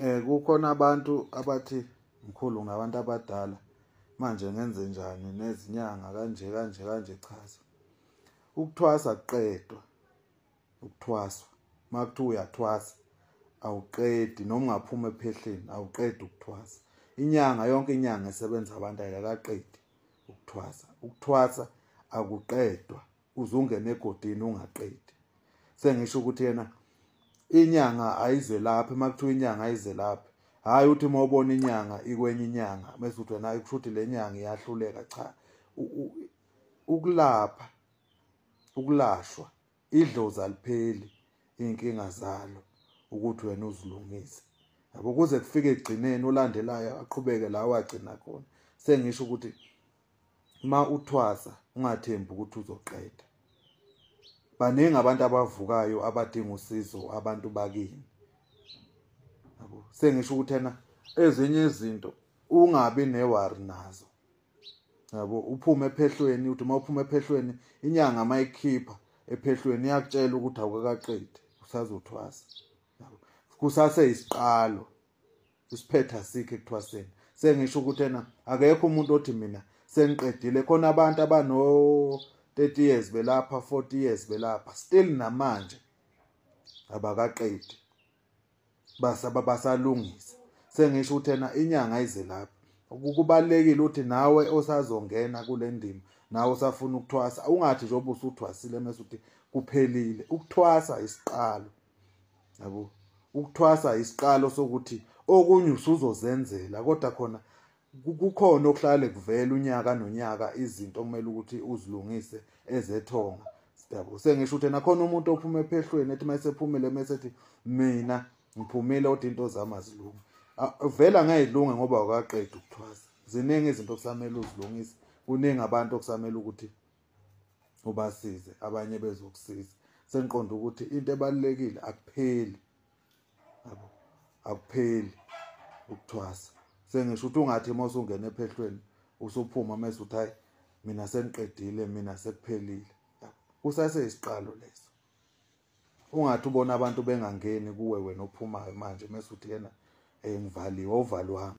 Eh kukhona abantu abathi mkhulu ngabantu abadala manje ngenze njani nezinyanga kanje kanje kanje chaza. Ukuthwasa kuqedwa. Ukuthwaswa. Makuthi uyathwasa awuqedi noma ungaphuma ephehleni awuqedi ukuthwasa. Inyanga yonke inyanga esebenza abantu ayakaqedi ukuthwasa. Ukuthwasa akuqedwa. uzungena egodini ungaqedi sengisho ukuthi yena inyanga ayizelaphi uma kuthiwa inyanga ayizelaphi hhayi uthi uma ubona inyanga ikwenye inyanga mese uthi wena kusho ukuthi le nyanga iyahluleka cha ukulapha ukulashwa idlozi alipheli iy'nkinga zalo ukuthi wena uzilungise yabo kuze kufike ekugcineni olandelayo aqhubeke la wagcina khona sengisho ukuthi uma uthwasa ungathembi ukuthi uzoqeda baningi abantu abavukayo abadinga usizo abantu bakini yabo sengisho ukuthi ena ezinye izinto ungabi newari nazo yabo uphume ephehlweni uthi uma uphume ephehlweni inyanga mayikhipha ephehlweni iyakutshela ukuthi awukakaqedi usazothwasa yabo kusase isiqalo isiphetha sikhe kuthwaseni sengisho ukuthi ena akekho umuntu othi mina sengiqedile khona abantu abano 30 years belapha 40 years belapha still namanje abakaqedi basaba basalungisa sengisho ukuthi ena inyanga ize lapha ukubalekile uthi nawe osazongena kule ndima nawe usafuna ukuthwasa ungathi njengoba usuthwasile mase uthi kuphelile ukuthwasa isiqalo yabo ukuthwasa isiqalo sokuthi okunye usuzozenzela kodwa khona kukhona okuhlale kuvela unyaka nonyaka izinto kumele ukuthi uzilungise ezethonga siyabo sengisho ukuthi nakhona umuntu ophuma ephehlweni ethi mayesephumile mesethi mina ngiphumile kodwa into zami azilungi vela ngayilunga ngoba wakaqeda ukuthwasa ziningi izinto okusamele uzilungise kuningi abantu okusamele ukuthi ubasize abanye bezokusiza sengiqonda ukuthi into ebalekile akupheli yabo akupheli ukuthwasa sengisho ukuthi ungathi uma usungena ephehlweni usuphuma mase uthi hayi mina sengiqedile mina sekuphelile kusase isiqalo leso ungathi ubona abantu bengangeni kuwe wena ophumayo manje mase uthi yena eh ngivaliwe uvalwami